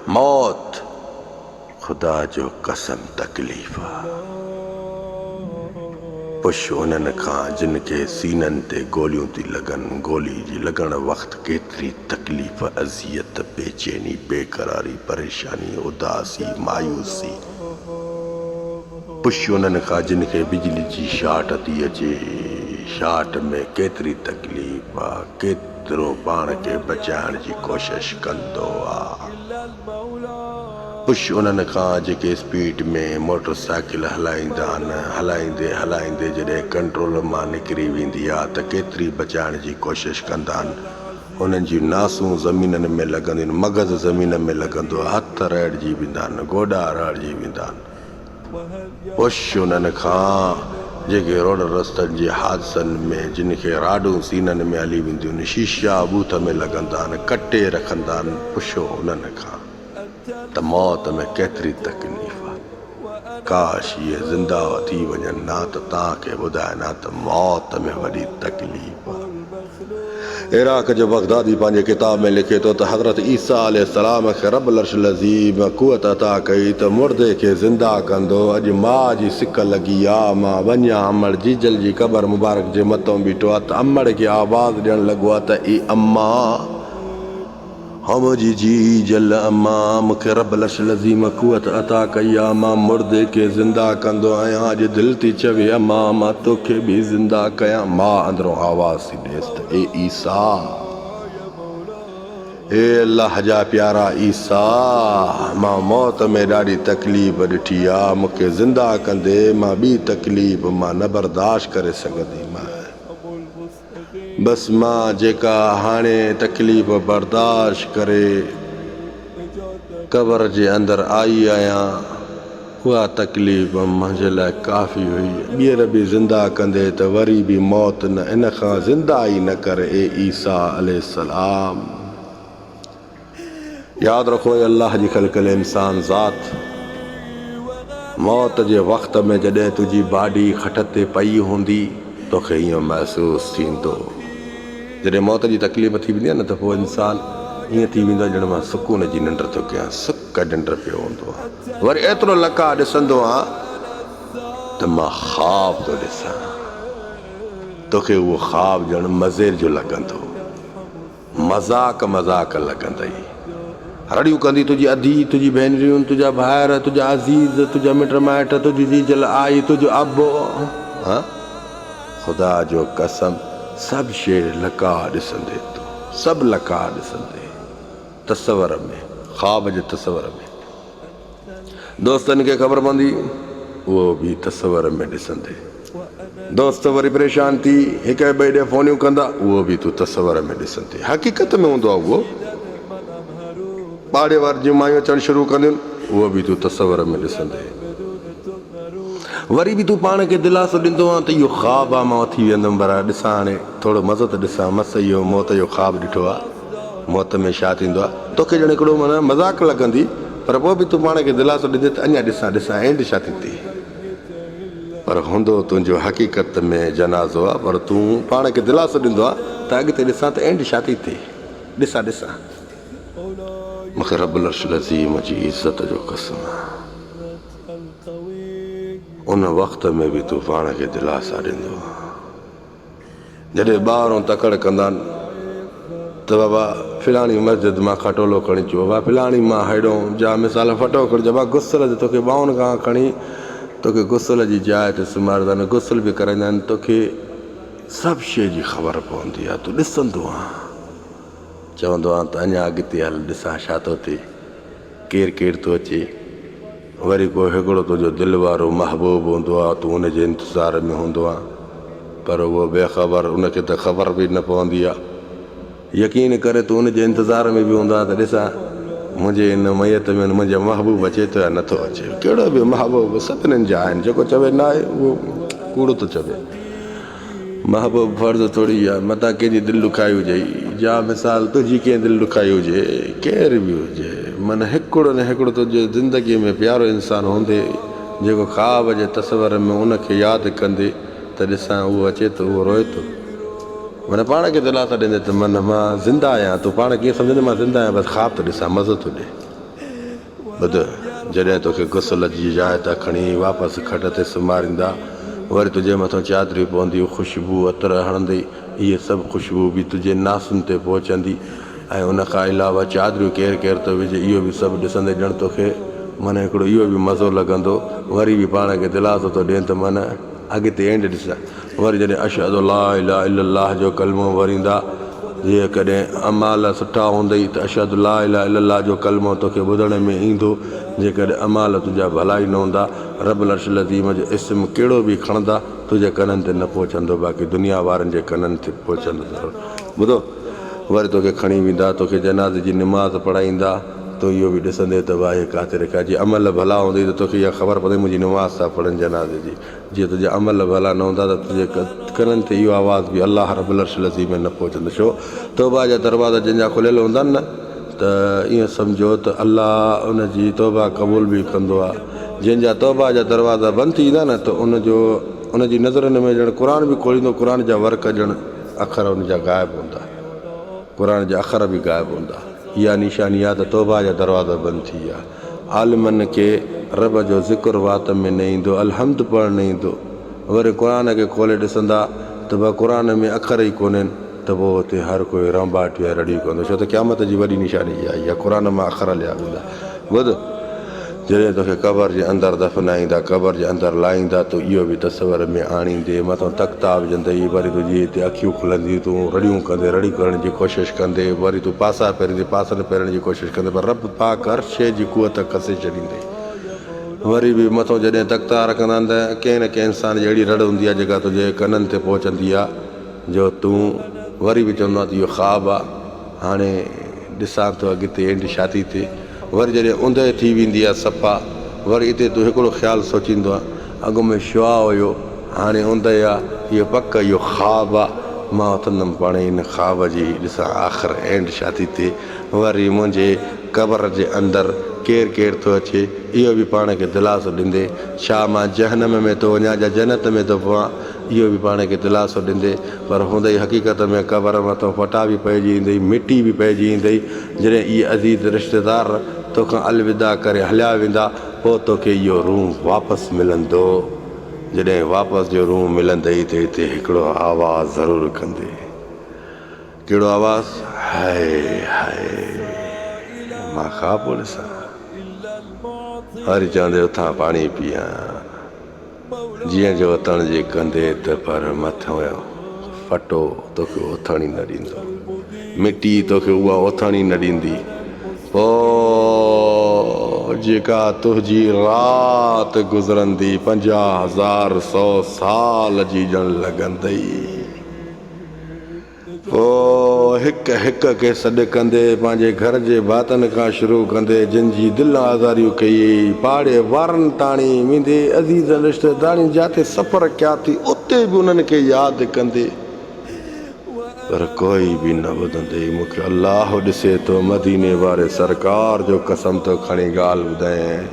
موت خدا جو قسم تڪليف آ. پڇ انهن کان جن کي سينن تي گوليون ٿي لڳن، گولي جي لڳڻ وقت ڪيتري تڪليف، اذيت، بيچيني، بيقراري، پريشاني، اداسي، مايوسي. پڇ انهن کان جن کي بجلي جي شارٽ ٿي اچي، شارٽ ۾ ڪيتري تڪليف آ. ڪيترو پاڻ کي بچائڻ جي ڪوشش ڪندو آ پڇ انهن کان جيڪي اسپيڊ ۾ موٽر سائيڪل هلائيندا آهن هلائيندي هلائيندي جڏهن ڪنٽرول مان نڪري ويندي آ ته ڪيتري بچائڻ جي ڪوشش ڪندا آهن انهن جون ناسون زمينن ۾ لڳنديون آهن مغز زمين ۾ لڳندو آ هٿ رئڙجي ويندا آهن گوڏا رئڙجي ويندا آهن پڇ انهن کان جيڪي روڊن رستن جي حادثن ۾ جن کي راڊون سينن ۾ هلي وينديون شيشا ٻوٿ ۾ لڳندان ڪٽي رکندان پڇو انهن کان ته موت ۾ ڪيتري تڪليف آ ڪاش اهي زندهه ٿي وڃن ها ته توهان کي ٻڌاين ها ته موت ۾ وڏي تڪليف آ. عراق جو بغدادي پنهنجي ڪتاب ۾ لکي ٿو ته حضرت عيسيٰ عليه السلام کي رب العرش العظيم قوت عطا ڪئي ته مردي کي زنده ڪندو، اڄ ماء جي سڪ لڳي آ، مان وڃي آ امڙ جيجل جي قبر مبارڪ جي مٿئون بيٺو آ ته امڙ کي آواز ڏيڻ لڳو آ ته اي امان! حوج جي جل اما مونکي رب العرش العظيم قوت عطا ڪئي آ مان مردي کي زنده ڪندو آهيان اڄ دل ٿي چوي اما مان توکي به زنده ڪيان ماء اندرون آواز ٿي ڏيس ته اي عيسيٰ اي الله جا پيارا عيسيٰ مان موت ۾ ڏاڍي تڪليف ڏٺي آ مونکي زنده ڪندي مان ٻي تڪليف مان نه برداشت ڪري سگهندي مان بس مان جيڪا هاڻي تڪليف برداشت ڪري قبر جي اندر آئي آهيان اها تڪليف منهنجي لاء ڪافي هئي. ٻيهر به زنده ڪندي ته وري به موت نه ان کان زنده ئي نه ڪر اي عيسيٰ عليه السلام. ياد رکو اي الله جي خلقل انسان ذات! موت جي وقت ۾ جڏهن تنهنجي باڊي کٽ تي پئي هوندي توکي ائين محسوس ٿيندو. جڏهن موت جي تڪليف ٿي ويندي آهي نه ته پوء انسان ائين ٿي ويندو آهي ڄڻ مان سڪون جي ننڊ ٿو ڪيان. سڪ ننڊ پيو هوندو آهيان. وري ايترو لڪاء ڏسندو آهيان ته مان خواب ٿو ڏسان. توکي اهو خواب ڄڻ مزير جو لڳندو. مذاق مذاق لڳندئي. رڙيون ڪندي تنهنجي ادي، تنهنجي ڀينريون، تنهنجا ڀائر، تنهنجا عزيز، تنهنجا مٽ مائٽ، تنهنجي جيجل آئي، تنهنجو ابو. هان! خدا جو قسم سڀ شيء لڪا ڏسندي تون، سڀ لڪا ڏسندي. تصور ۾، خواب جي تصور ۾. دوستن کي خبر پوندي اهو به تصور ۾ ڏسندي. دوست وري پريشان ٿي هڪ ٻئي ڏي فونيون ڪندا اهو به تون تصور ۾ ڏسندي. حقيقت ۾ هوندو آهي اهو. پاڙي وارن جون مايون اچڻ شروع ڪنديون اهو به تون تصور ۾ ڏسندي. وري به تون پاڻ کي دلاسو ڏيندو آهين ته اهو خواب آهي مان اٿي ويندم وري ڏسان هاڻي ٿورو مزو ته ڏسان مس اهو موت جو خواب ڏٺو آهي. موت ۾ ڇا ٿيندو آ توکي ڄڻ هڪڙو معنيٰ مذاق لڳندي پر پوء به تون پاڻ کي دلاسو ڏيندي ته اڃا ڏسان ڏسان اينڊ ڇا ٿيندي پر هوندو تنهنجو حقيقت ۾ جنازو آ پر تون پاڻ کي دلاسو ڏيندو آ ته اڳتي ڏسان ته اينڊ ڇا ٿي ٿئي ڏسان ڏسان مون کي رب العرش العظيم جي عزت جو قسم ان وقت ۾ به تون پاڻ کي دلاسا ڏيندو آ. جڏهن ٻاهرون تڪڙ ڪندا آهن ته بابا فلاڻي مسجد مان کٽولو کڻي اچو بابا فلاڻي مان هيڏو جا مثال ڦٽو کڻي اچو بابا غسل جو توکي ٻانهن کان کڻي توکي غسل جي جاء تي سمهاريندا آهن غسل به ڪرائيندا آهن توکي سڀ شيء جي خبر پوندي آهي تون ڏسندو آهن چوندو آهن ته اڃا اڳتي هل ڏسان ڇا ٿو ٿئي ڪير ڪير ٿو اچي وري ڪو هڪڙو تنهنجو دل وارو محبوب هوندو آ تون ان جي انتظار ۾ هوندو آ پر اهو بي خبر ان کي ته خبر به نه پوندي آ يقين ڪري تون ان جي انتظار ۾ به هوندو آ ته ڏسان منهنجي ان ميت ۾ منهنجو محبوب اچي ٿو يا نه ٿو اچي ڪهڙو به محبوب سڀنن جا آهن جيڪو چوي نه آهي اهو ڪوڙ ٿو چوي. محبوب فرض ٿوري آ متان ڪنهن جي دل ڏکائي هجئي جا مثال تنهنجي ڪنهن دل ڏکائي هجي ڪير به هجي من هڪڙو نه هڪڙو تنهنجي زندگي ۾ پيارو انسان هوندي جيڪو خواب جي تصور ۾ ان کي ياد ڪندي ته ڏسان اهو اچي ٿو اهو روئي ٿو من پاڻ کي دلاسا ڏيندي ته من مان زنده آهيان تون پاڻ کي ڪيئن سمجهندي مان زنده آهيان بس خواب ٿو ڏسان مزو ٿو ڏي ٻڌ، جڏهن توکي غسل جي جاء تان کڻي واپس کٽ تي سمهاريندا، وري تنهنجي مٿان چادريون پونديون، خوشبوء عطر هڻندي، اهي سڀ خوشبوء به تنهنجي ناسن تي پهچندي ۽ ان کان علاوه چادريون ڪير ڪير ٿو وجهي، اهو به سڀ ڏسندي ڄڻ توکي من هڪڙو اهو به مزو لڳندو، وري به پاڻ کي دلاسو ٿو ڏين ته من. اڳتي اينڊ ڏس وري جڏهن اشھد الا اله الا الله جو ڪلمو وريندا جيڪڏهن اعمال سٺا هوندئي ته اشھد الا اله الا الله جو ڪلمو توکي ٻڌڻ ۾ ايندو جيڪڏهن اعمال تنهنجا ڀلا ئي نه هوندا رب العرش العظيم جو اسم ڪهڙو به کڻندا تنهنجي ڪنن تي نه پهچندو باقي دنيا وارن جي ڪنن تي پهچندو ٻڌو وري توکي کڻي ويندا، توکي جنازي جي نماز پڙهائيندا، تون اهو به ڏسندين ته واهي ڪاتي رکيا، جي عمل ڀلا هوندئي ته توکي اها خبر پوندئي منهنجي نماز ٿا پڙهن جنازي جي، جي تنهنجا عمل ڀلا نه هوندا ته تنهنجي ڪنن تي اهو آواز به الله رب العرش العظيم ۾ نه پهچندو، ڇو توبه جا دروازا جنهن جا کليل هوندا آهن نه ته ائين سمجهو ته الله ان جي توبه قبول به ڪندو آهي، جنهن جا توبه جا دروازا بند ٿي ويندا نه ته ان جو ان جي نظرن ۾ ڄڻ قرآن به کوليندو قرآن جا ورق ڄڻ. اکر ان جا غائب هوندا. قرآن جا اکر به غائب هوندا. اها نشاني آهي ته توبه جا دروازا بند ٿي ويا. عالمن کي رب جو ذڪر وات ۾ نه ايندو، الحمد پڙهڻ نه ايندو. وري قرآن کي کولي ڏسندا ته به قرآن ۾ اکر ئي ڪونهن ته پوء اتي هر ڪوئي رنباٽيون ۽ رڙيون ڪندو ڇو ته قيامت جي وڏي نشاني اها ئي آهي. قرآن مان اکر ليا ويندا. ٻڌ! جڏهن توکي قبر جي اندر دفنائيندا، قبر جي اندر لاهيندا، تون اهو به تصور ۾ آڻيندي، مٿو تختا وجهندئي، وري تنهنجي هتي اکيون کلنديون، تون رڙيون ڪندي، رڙيون ڪرڻ جي ڪوشش ڪندي، وري تون پاسا ڦيريندي، پاسن ڦيرڻ جي ڪوشش ڪندي، پر رب پاڪ هر شيء جي قوت کسي ڇڏيندي. وري به مٿو جڏهن تختا رکندا آهن ته ڪنهن نه ڪنهن انسان جي اهڙي رڙ هوندي آهي، جيڪا تنهنجي ڪنن تي پهچندي آهي، جو تون وري به چوندو آهين ته اهو خواب آهي، هاڻي ڏسان ٿو اڳتي اينڊ شادي تي وري جڏهن اوندهه ٿي ويندي آ صفا وري اتي تون هڪڙو خيال سوچيندو آ اڳ ۾ شعاع هيو هاڻي اوندهه آ اهو پڪ اهو خواب آ مان اٿندم پاڻهي ان خواب جي ڏسان آخر اينڊ شادي تي وري منهنجي قبر جي اندر ڪير ڪير ٿو اچي اهو به پاڻ کي دلاسو ڏيندي ڇا مان جهنم ۾ ٿو وڃان جا جنت ۾ ٿو پوان اهو به پاڻ کي دلاسو ڏيندي پر هوندئي حقيقت ۾ قبر مٿان ڦٽا به پئجي ايندئي، مٽي به پئجي ايندئي، جڏهن اهي عزيز رشتيدار توکان الوداع ڪري هليا ويندا پوء توکي اهو روح واپس ملندو، جڏهن واپس جو روح ملندئي ته هتي هڪڙو آواز ضرور ڪندي، ڪهڙو آواز، هائي هائي مان خواب پيو ڏسان، وري چوندي اٿان پاڻي پيئان. جيئن جو اٿڻ جي ڪندي ته پر مٿيون ڦٽو توکي اٿڻ ئي نه ڏيندو. مٽي توکي اها اٿڻ ئي نه ڏيندي. پوء جيڪا تنهنجي رات گذرندي پنجاهه هزار سو سال جي ڄڻ لڳندئي. هوء هڪ هڪ کي سڏ ڪندي پنهنجي گهر جي ڀاتن کان شروع ڪندي جن جي دل آزاريون ڪيئي، پاڙي وارن تاڻي ويندي عزيزن رشتيدارن جاتي سفر ڪيا ٿي اتي به انهن کي ياد ڪندي پر ڪوئي به نه ٻڌندي مون کي الله ڏسي ٿو مديني واري سرڪار جو قسم ٿو کڻي ڳالهه ٻڌايئين.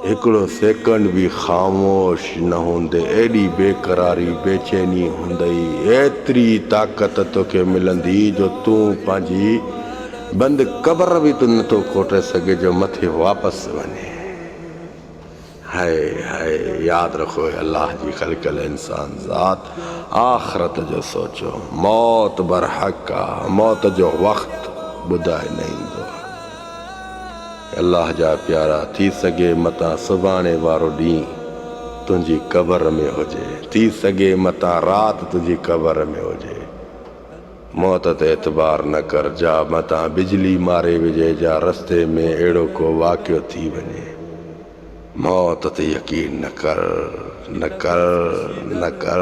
هڪڙو سيڪنڊ به خاموش نه هوندي، ايڏي بيقراري، بيچيني هوندئي، ايتري طاقت توکي ملندي جو تون پنهنجي بند قبر به تون نه ٿو کوٽي سگهين جو مٿي واپس وڃين. هاء هاء ياد رکو اي الله جي خلقل انسان ذات، آخرت جو سوچو، موت برحق آ، موت جو وقت ٻڌائي نه ايندو آ. الله جا پيارا ٿي سگهي متان سڀاڻي وارو ڏينهن تنهنجي قبر ۾ هجي ٿي سگهي متان رات تنهنجي قبر ۾ هجي موت تي اعتبار نه ڪر جا متان بجلي ماري وجهي جا رستي ۾ اهڙو ڪو واقعو ٿي وڃي موت تي يقين نه ڪر نه ڪر نه ڪر.